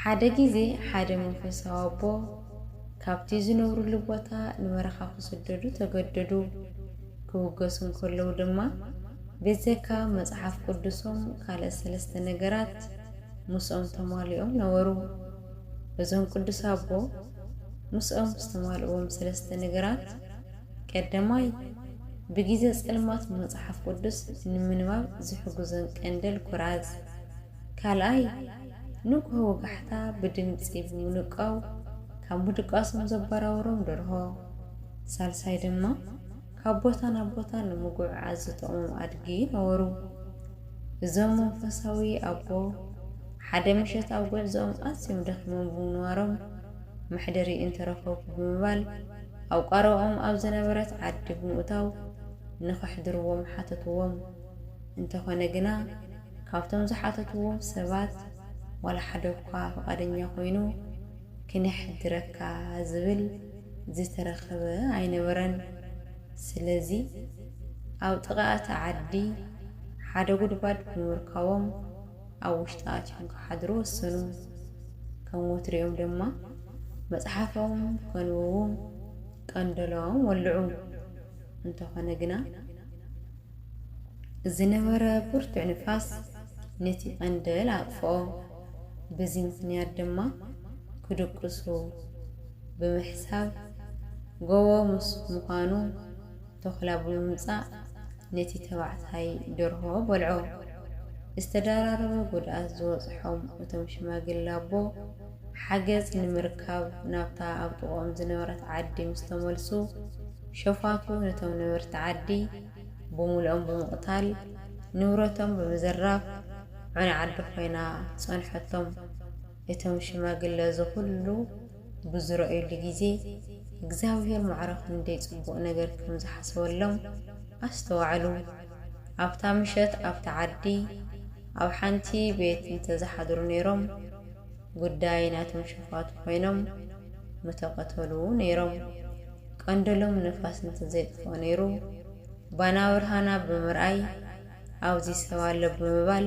ሓደ ግዜ ሓደ መንፈሳዊ ኣቦ ካብቲ ዝነብርሉ ቦታ ንበረኻ ክስደዱ ተገደዱ። ክብገሱ እንከለዉ ድማ ብዘካ መጽሓፍ ቅዱሶም ካልእ ሰለስተ ነገራት ምስኦም ተማሊኦም ነበሩ። እዞም ቅዱስ ኣቦ ምስኦም ዝተማልእዎም ሰለስተ ነገራት፣ ቀዳማይ ብግዜ ጸልማት መጽሓፍ ቅዱስ ንምንባብ ዝሕግዞን ቀንደል ኩራዝ፣ ካልኣይ፣ ንጉሆ ወጋሕታ ብድምጺ ብምንቋው ካብ ምድቃሶም ዘበራብሮም ደርሆ። ሳልሳይ ድማ፣ ካብ ቦታ ናብ ቦታ ንምጉዕዓዝ ዝጠቕሞም ኣድጊ ነበሩ። እዞም መንፈሳዊ ኣቦ፣ ሓደ ምሸት ኣብ ጉዕዞኦም ኣዝዮም ደኺሞም ብምንባሮም፣ መሕደሪ እንተረኸብኩ ብምባል ኣብ ቋረባኦም ኣብ ዝነበረት ዓዲ ብምእታው ንኸሕድርዎም ሓተትዎም። እንተኾነ ግና፣ ካብቶም ዝሓተትዎም ሰባት ዋላ ሓደ'ኳ ፍቓደኛ ኮይኑ ክነሕድረካ ዝብል ዝተረኸበ ኣይነበረን። ስለዚ ኣብ ጥቓ'ቲ ዓዲ ሓደ ጉድጓድ ብምርካቦም ኣብ ውሽጢ ኣትዮም ክሓድሩ ወሰኑ። ከም ወትሪኦም ድማ መጽሓፎም ከንብቡ ቀንደሎም ወልዑ። እንተኾነ ግና። ዝነበረ ብርቱዕ ንፋስ ነቲ ቀንደል ኣጥፍኦ። በዚ ምኽንያት ድማ ክድቅሱ ብምሕሳብ ጎቦ ምስ ምዃኑ ተኹላ ብምምጻእ ነቲ ተባዕታይ ደርሆ በልዖ። ዝተደራረበ ጉድኣት ዝበጽሖም እቶም ሽማግለ ኣቦ፣ ሓገዝ ንምርካብ ናብታ ኣብ ጥቕኦም ዝነበረት ዓዲ ምስ ተመልሱ፣ ሸፋቱ ነቶም ነበርቲ ዓዲ ብምሉኦም ብምቕታል፣ ንብረቶም ብምዝራፍ ዑና ዓዲ ኮይና ጸንሖቶም። እቶም ሽማግለ እዚ ኹሉ ብዝረእዩሉ ግዜ፣ እግዚኣብሄር ማዕረ ክንደይ ጽቡቕ ነገር ከም ዝሓሰበሎም ኣስተዋዕሉ። ኣብታ ምሸት ኣብታ ዓዲ ኣብ ሓንቲ ቤት እንተ ዝሓድሩ ነይሮም፣ ጉዳይ ናቶም ሸፋቱ ኮይኖም ምተቐተሉ ነይሮም። ቀንደሎም ንፋስ እንተዘይጥፍኦ ነይሩ ባና ብርሃና ብምርኣይ ኣብዚ ሰብ ኣሎ ብምባል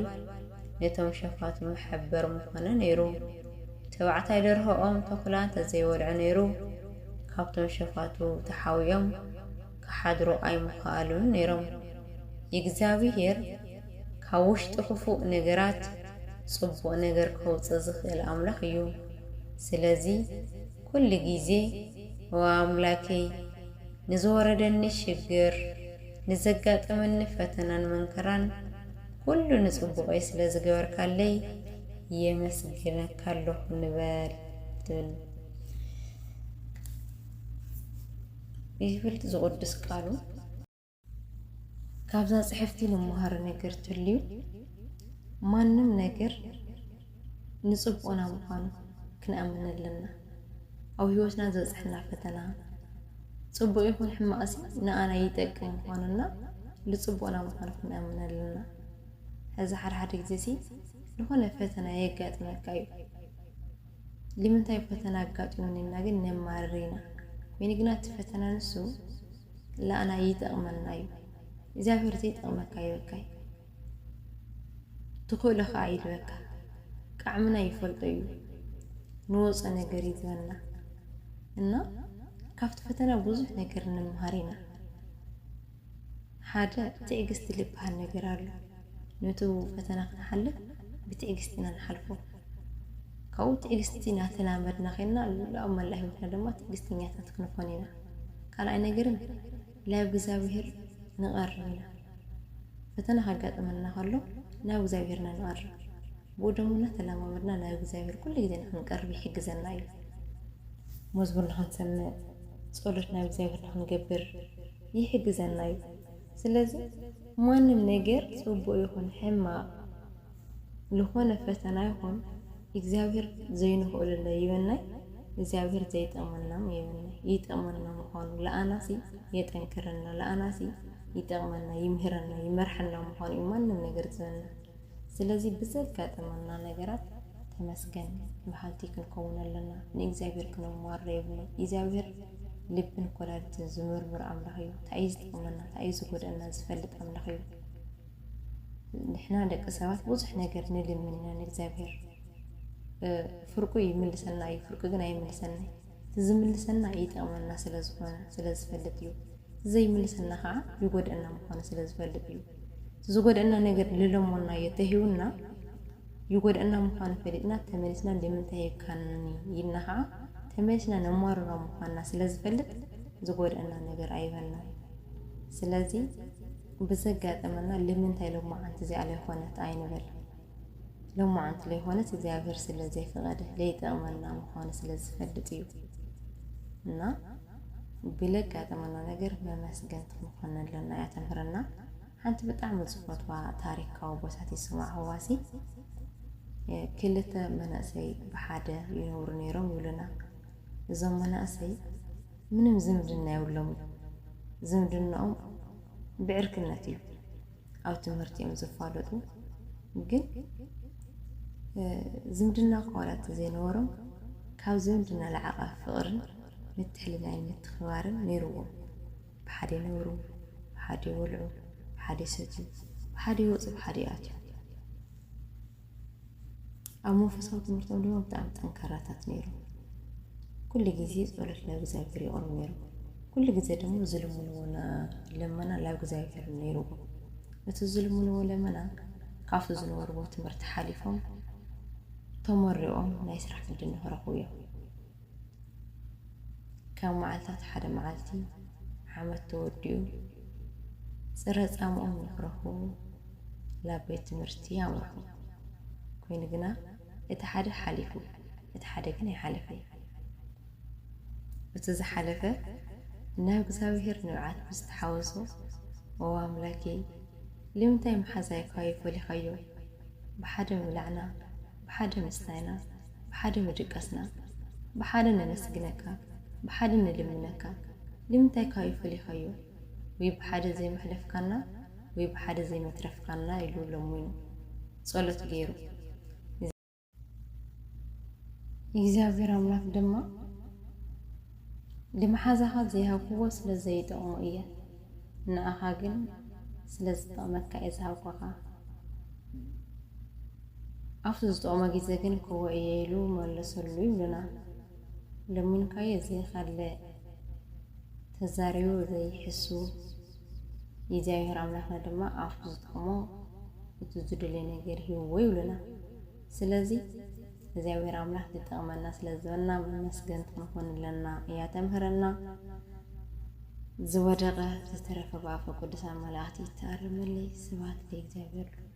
ነቶም ሸፋቱ መሐበሪ ምኾነ ነይሩ። ተባዕታይ ደርሆኦም ተኹላ እንተዘይበልዑ ነይሩ ካብቶም ሸፋቱ ተሓዊኦም ክሓድሩ ኣይምኸኣሉን ነይሮም። ኢግዚኣብሄር ካብ ውሽጢ ክፉእ ነገራት ጽቡቕ ነገር ከውጽእ ዝኽእል ኣምላኽ እዩ። ስለዚ ኩሉ ግዜ ኦ ኣምላኬይ ንዝወረደኒ ሽግር ንዘጋጠመኒ ፈተናን መንከራን ኩሉ ንጽቡቐይ ስለ ዝገበርካለይ የመስግነካ ኣለኹ ንበል ትብል። ይብል ዝቕዱስ ቃሉ። ካብዛ ጽሕፍቲ ንመሃሮ ነገር ትልዩ ማንም ነገር ንጽቡቕና ምዃኑ ክንኣምን ኣለና። ኣብ ህይወትና ዝበጽሐና ፈተና ጽቡቕ ይኹን ሕማቕሲ ንኣና ይጠቅም ምዃኑና ንጽቡቕና ምዃኑ ክንኣምን ኣለና። ሕዚ ሓደ ሓደ ጊዜ ሲ ንኾነ ፈተና የጋጥመካ እዩ። ልምንታይ ፈተና ኣጋጢሙኒ ኢልና ግን ነማርር ኢና። ኮይኑ ግና እቲ ፈተና ንሱ ለኣና ይጠቕመና እዩ። እግዚኣብሔር ዘይጠቕመካ ይበካይ ትኽእሎ ከዓ ይልበካ ቃዕምና ይፈልጦ እዩ ንወፆ ነገር እዩ ዝበና እና ካብቲ ፈተና ብዙሕ ነገር ንምሃር ኢና። ሓደ ትዕግስቲ ልበሃል ነገር ኣሎ። ነቱ ፈተና ክንሓልፍ ብትዕግስቲ ኢና ንሓልፎ። ካብኡ ትዕግስቲ እናተላመድና ኼንና ኣብ መላእ ህይወትና ድማ ትዕግስተኛታት ክንኾን ኢና። ካልኣይ ነገርን ላብ እግዚኣብሄር ንቐርብ ኢና። ፈተና ከጋጥመና ከሎ ናብ እግዚኣብሄር ኢና ንቐርብ። ብኡ ደሞ እናተለማመድና ናብ እግዚኣብሄር ኩሉ ግዜ ንኽንቀርብ ይሕግዘና እዩ። መዝሙር ንኽንሰምዕ፣ ጸሎት ናብ እግዚኣብሄር ንኽንገብር፣ ይሕግዘና እዩ ስለዚ ማንም ነገር ጽቡቅ ይኩን ሕማቅ ልኮነ ፈተና ይኩን እግዚኣብሔር ዘይንክእሉለ ይበናይ እግዚኣብሔር ዘይጠቅመናም የበናይ ይጠቅመና ምኳኑ ልኣናሲ የጠንክረና ልኣናሲ ይጠቅመና ይምህረና ይመርሐና ምኳኑ እዩ ማንም ነገር ዝበና ስለዚ ብዘጋጠመና ነገራት ተመስገን በሃልቲ ክንከውን ኣለና። ንእግዚኣብሄር ክነማርሮ የብልናን። ኢዝያብሄር ልብን ኮላሊትን ዝምርምር ኣምላኽ እዩ። ታይ እዩ ዝጠቕመና ታይ እዩ ዝጎድኣና ዝፈልጥ ኣምላኽ እዩ። ንሕና ደቂ ሰባት ብዙሕ ነገር ንልምን ኢና ንእግዚኣብሄር ፍርቁ ይምልሰና እዩ ፍርቁ ግን ኣይምልሰናይ። እቲ ዝምልሰልና ይጠቕመና ስለ ዝኾነ ስለ ዝፈልጥ እዩ። እቲ ዘይምልሰልና ኸዓ ይጎድእና ምዃኑ ስለ ዝፈልጥ እዩ። እቲ ዝጎድእና ነገር ልለሞናዮ ተሂቡና ይጎድእና ምዃኑ ፈሊጥና ተመሊስና ልምንታይ ሂብካኒ ኢልና ኸዓ ተመሊስና ነማርሮ ምዃንና ስለ ዝፈልጥ ዝጎድእና ነገር ኣይበናን። ስለዚ ብዘጋጠመና ልምንታይ ሎማዓንቲ እዚኣ ለይኾነት ኣይንበል። ሎማዓንቲ ለይኮነስ እግዚኣብሔር ስለ ዘይፈቀደ ለይጠቅመና ምኳኑ ስለ ዝፈልጥ እዩ እና ብለጋጠመና ነገር መመስገንቲ ምኳን ኣለና እያ ተምህረና ሓንቲ ብጣዕሚ ዝፈትዋ ታሪካዊ ቦታት ይስማዕ ህዋሲ ክልተ መናእሰይ ብሓደ ይነብሩ ነይሮም ይብሉና እዞም መናእሰይ ምንም ዝምድና የብሎምን ዝምድንኦም ብዕርክነት እዩ ኣብ ትምህርቲ እዮም ዝፋለጡ ግን ዝምድና እኳ ዋላ እንተዘይነበሮም ካብ ዝምድና ልዓቐ ፍቕርን ምትሕልላይን ምትኽባርን ነይርዎም ብሓደ ይነብሩ ብሓደ ይበልዑ ብሓደ ይሰትዩ ብሓደ ይወፁ ብሓደ ይኣትዩ ኣብ መንፈሳዊ ትምህርቶም ድማ ብጣዕሚ ጠንካራታት ነይሮም። ኩሉ ግዜ ጸሎት ናብ እግዚኣብሄር የቕርቡ ነይሮም። ኩሉ ግዜ ድማ ዝልምንዎ ልመና ናብ እግዚኣብሄር እዩ ነይርዎም። እቲ ዝልምንዎ ልመና ካብቲ ዝነበርዎ ትምህርቲ ሓሊፎም ተመሪቖም ናይ ስራሕ ዕድል ንኽረኽቡ እዮም። ካብ መዓልታት ሓደ መዓልቲ ዓመት ተወዲኡ ፅረ ፃምኦም ንክረኽቡ ናብ ቤት ትምህርቲ ኣምርሑ። ኮይኑ ግና እቲ ሓደ ሓሊፉ እቲ ሓደ ግን ኣይሓለፈን። እቲ ዝሓለፈ ናብ እግዚኣብሔር ንብዓት ብዝተሓወሶ ኦ ኣምላኬ ልምንታይ መሓዛይኳ ይፈሊኻዮ ብሓደ ምብላዕና ብሓደ ምስታይና ብሓደ ምድቃስና ብሓደ ነመስግነካ ብሓደ ንልምነካ ልምንታይ ካዩ ፈሊካዮ ውይ ብሓደ ዘይመሕለፍካና ውይ ብሓደ ዘይመትረፍካና ኢሉ ለሙኑ ጸሎት ገይሩ ኢግዚኣብሔር ኣምላክ ድማ ልምሓዛካ ዘይሃብክዎ ስለ ዘይጠቅሞ እየ ንኣካ ግን ስለ ዝጠቅመካ እየ ዝሃብኳካ። ኣብቲ ዝጠቕሞ ግዜ ግን ክወ እየ ኢሉ መለሰሉ ይብሉና። ለሚንካዮ ዘይኻልእ ተዛሪቡ ዘይሕሱ እግዚኣብሔር ኣምላኽና ድማ ኣፉ ዝጠቕሞ እቲ ዝደልዮ ነገር ሂብዎ ይብሉና። ስለዚ እግዚኣብሔር ኣምላኽ ዝጠቕመና ስለ ዝበልና መመስገንቲ ክንኾን ኣለና እያ ተምህረና። ዝወደቐ ዝተረፈ ብኣፈ ቅዱሳን መላእኽቲ ይተኣረመለይ። ስብሐት ለእግዚኣብሔር ልዑል።